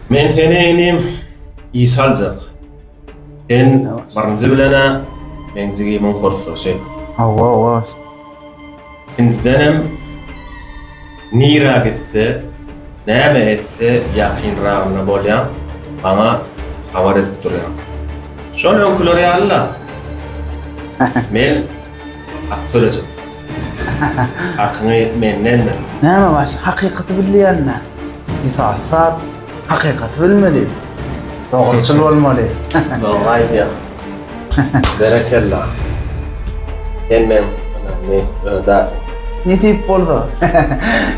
Men seni inim iş aljak. Sen birinji bilene men jigimiň kursdaşy. Hawa, hawa. Ikinciden hem nira gitse, näme etse ýakynragynda bolýan, maňa habar edip durýan. Şol öňküler ýaly-la. Men Hak tölejeksin. Hakyňy mendendir. Näme baş, hakykaty bilýänme? Mysal, sat, hakykaty bilmeli. Dogruçyl bolmaly. Dogry aýdýaň. Berekella. Sen meň ynamly ödasyň. Nesip bolsa.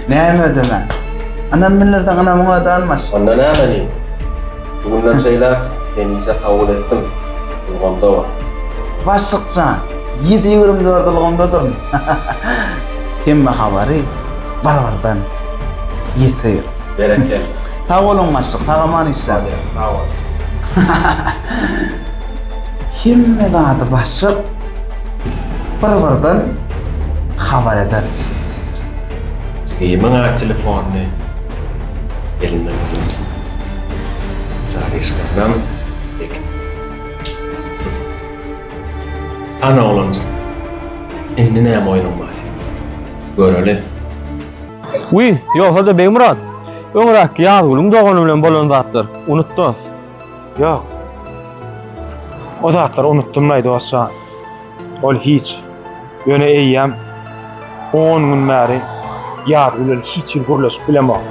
Näme ödeme? Ynam bildirseň ynamyňy öde almaş. Onda näme edeyim? Bu günden şeýläk hemişe kabul etdim, ulgamda bor. Başlyk jan, ýedi ýigrim dörde ulgamdadyryn. Hemme habary bir birden ýetir. Berekella. Sag boluň başlyk, sag aman işläň. Sag boluň. Hemme zady başlyk bir birden habar eder. Jigimiň-ä telefonyny elinden alyň. Çaryşkasynam bekitdi. Han oglanjyk, indi näme oýnuň bar seniň? Göreli. Wiý, ýogsa-da Begmyrat, öňräkki Ýazgulyň dogany bilen bolan zatlar, unut dost. Ýok. O zatlary unutdym-laý dost jan. Ol hiç. Ýöne eýýäm on gün bäri ýaz bilen hiç hili gürleşip bilemok.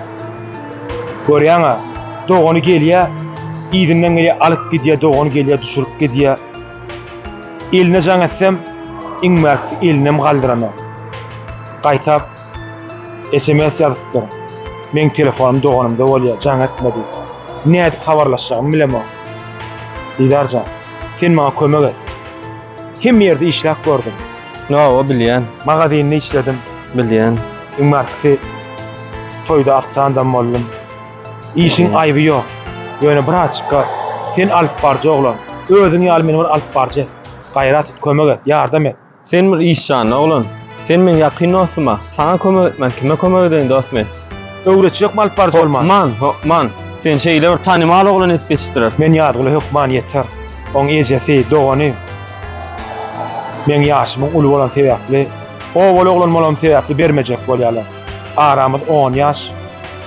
Görýäň-ä, dogany gelýär, yzyndan gelýär, alyp gidýär, dogany gelýär, düşürip gidýär. Eline jaň etsem, iň bärkisi elinem galdyranok. Gaýtap. Sms ýazypdyr. Meň telefonym doganymda bolýar, jaň etmedi. Nädip habarlaşjagymy bilemok. Didar jan, sen maňa kömek et. Hemme ýerde işläp gördüm. Hawa, bilýän. Magazinde işledim. Bilýän. Iň barkysy toýda ofsiandam boldum. Işiň aýby ýok. Ýöne braçka, sen alypbaryjy oglan. Özüň ýaly meni bir alypbaryjy et. Gaýrat et, kömek et, ýardam et. Sen bir iş janly oglan. Sen meň ýakyn dostum-a. Saňa kömek etmän kime kömek edeýin dost men. Öwretji ýokmy alyp baryjy bolman? Hökman, hökman. Seni şeýle bir tanymal oglan edip ýetişdirer. Men Ýazgula hökman ýeter. Oň ejesi, dogany meň ýaşymyň uly bolany sebäpli, obaly oglan bolanym sebäpli bermejek bolýarlar. Aramyz on ýaş.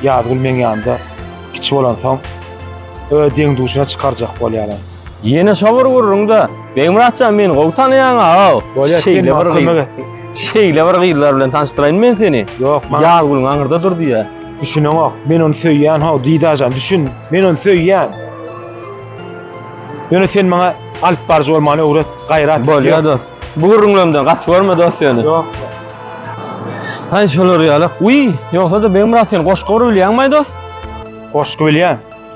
Ýazgul meň ýanymda kiçi bolansoň, öz deň-duşuna çykarjak bolýarlar. Ýene şo bir gürrüňde Begmyratjan meni gowy tanaýaň aga. Bolýar, sen Şeýle maňa bir kömek gyz. etdiň. Şeýle bir gyzlar bilen tanyşdyraýyn men seni. Ýok, maňa Ýazgülüň aňyrda dur diýýä. düşüneňok. Men ony söýýän, how, Didajan, düşün. Men ony söýýän. Ýöne sen maňa alyp baryjy bolmagyny öwret, gaýrat et. Bolýar dost. Bu gürrüňlerimden gaty görme dost ýöne. Ýok. Haý şolar ýalak. Wiý, ýogsa-da Begmyrat sen goşgy bir bilýäňmaý dost? Goşgy bilýän.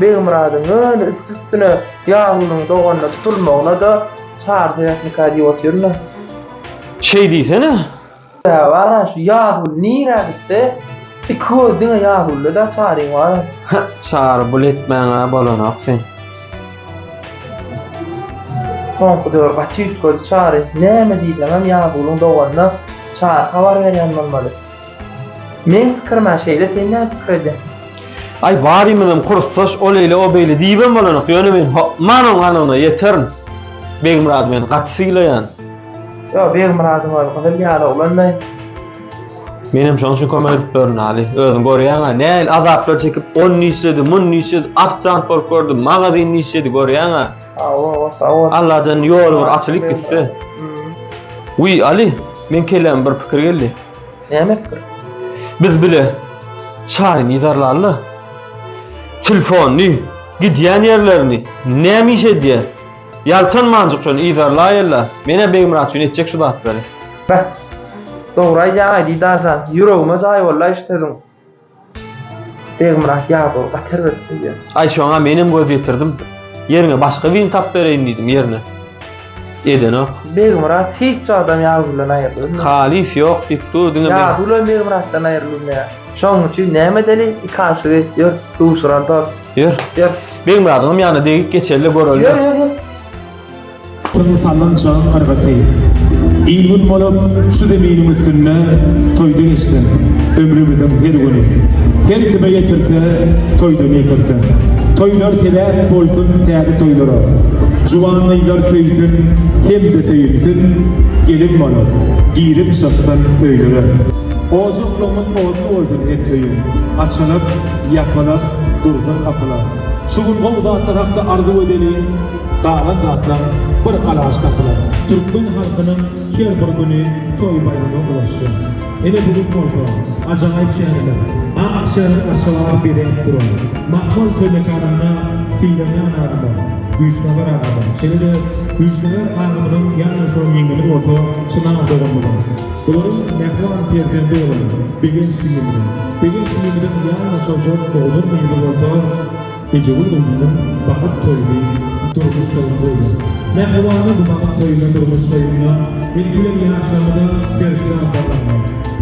Begmyradyň ýöne üsti-üstüne ýaglynyň doganyna tutulmagyna-da çar sebäpmikä diýip otyryn-a. Şeý diýsene! Sebäbi bar-a, şu Ýazguly nirä gitse, iki göz diňe Ýazgulda-da Çaryň bar-a. Hä, Çary bul etmäň-ä bolanok sen. Soňky döwür gaty üýtgedi Çary. Näme diýseňem Ýazgulyň doganyna Çary habar berýän bolmaly. Meň pikirim a şeýle sen näme pikir edýäň? Aý barymyzam kursdaş ol eýle o beýle diýibem bolanok ýöne men hokman oň anygyna ýeterin Begmyrady men gaty sylaýan. Ýo Begmyrady hol gyzyl ýaly oglanlaý. Menem şoň üçin kömek edip ýörün Aly özüň görýäňä nähili azaplar çekip ony işledi muny işledi ofisant bolup gördi magazynda işledi görýäňä. Allajan ýol bir açylyp gitse. Uý Ali, men kelläme bir pikir geldi. Näme pikir? Biz bile çaýyny ýydarlaly. Telefony, gidýän ýerlerini, näme iş edýär? Ýaltanmanjyk şony ýydarlaýyla. Menä Begmyrat üçin etjek şu zatlary. Beh. Dogry aýdýaň Aýdidar jan. Ýüregime jaý boldy-aý şu sözüň. Begmyrat ýadow gaty erbet söýýär. Aý şoňa menem göz ýetirdim. Ýeriňe başga birini tapyp bereýin diýdim, ýerine. Edenok. Begmyrat hiç wagtam Ýadowdan aýrylybilmär. Halys ýok diýip dur, diňe men. Ýadow bilen Begmyratdan aýrylybilmeýär. Şonuň üçin näme edeli, iki aşygy ýör, duşuralydal. Ýör. Ýör. Begmyradyňam ýanyna degip geçeli-de göreli. Ýör, ýör, ýör. Toýa salnan çagyň yrgysy. Il-gün bolup şu zeminiň üstünde toýda geçsin ömrümiziň her güni. Her kime ýetirse, toýdan ýetirsin. Toýlar sebäp bolsun täze toýlara. Juwan gyzlar söýsün hem-de söýülsin, gelin bolup, girip çyksyn öýlere. Ojaklarymyz otly bolsun hep öýüň, açylyp, ýapylyp dursun gapylar. Şu gün gowy zatlar hakda arzuw edeliň! Galan zatlar bir alaç tapylar. Türkmen halkynyň her bir güni toý-baýrama ulaşýar. Ine bu gün bolsa ajaýyp şäherler, ak şäher Aşgabat bezenip duran. Mahmal toý mekanynda Sylanýan agama, Güýçnagar agama, şeýle-de Güýçnagar agamyzyň ýanýoldaşlarynyň ýeňňesi bolsa Çynar doganymyzyň, bularyň mähriban perzendi bolan Begenç jigimiziň, Begenç jigimiziň ýanýoldaşy Oguzhan jigimiz bolsa, Ejegül gyzymyň bagyt toýuny durmuş toýuny goýlar. Mähribana bu bagyt toýuna durmuş toýunda ilki bilen ýaşlarymyza berk jan salmagyny,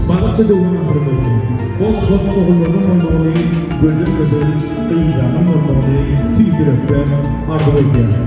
bagtly döwran asyrmagyny, goç-goç ogullarynyň bolmagyny, gözel-gözel gyzlarynyň bolmagyny tüýs ýürekden arzuw edýärin.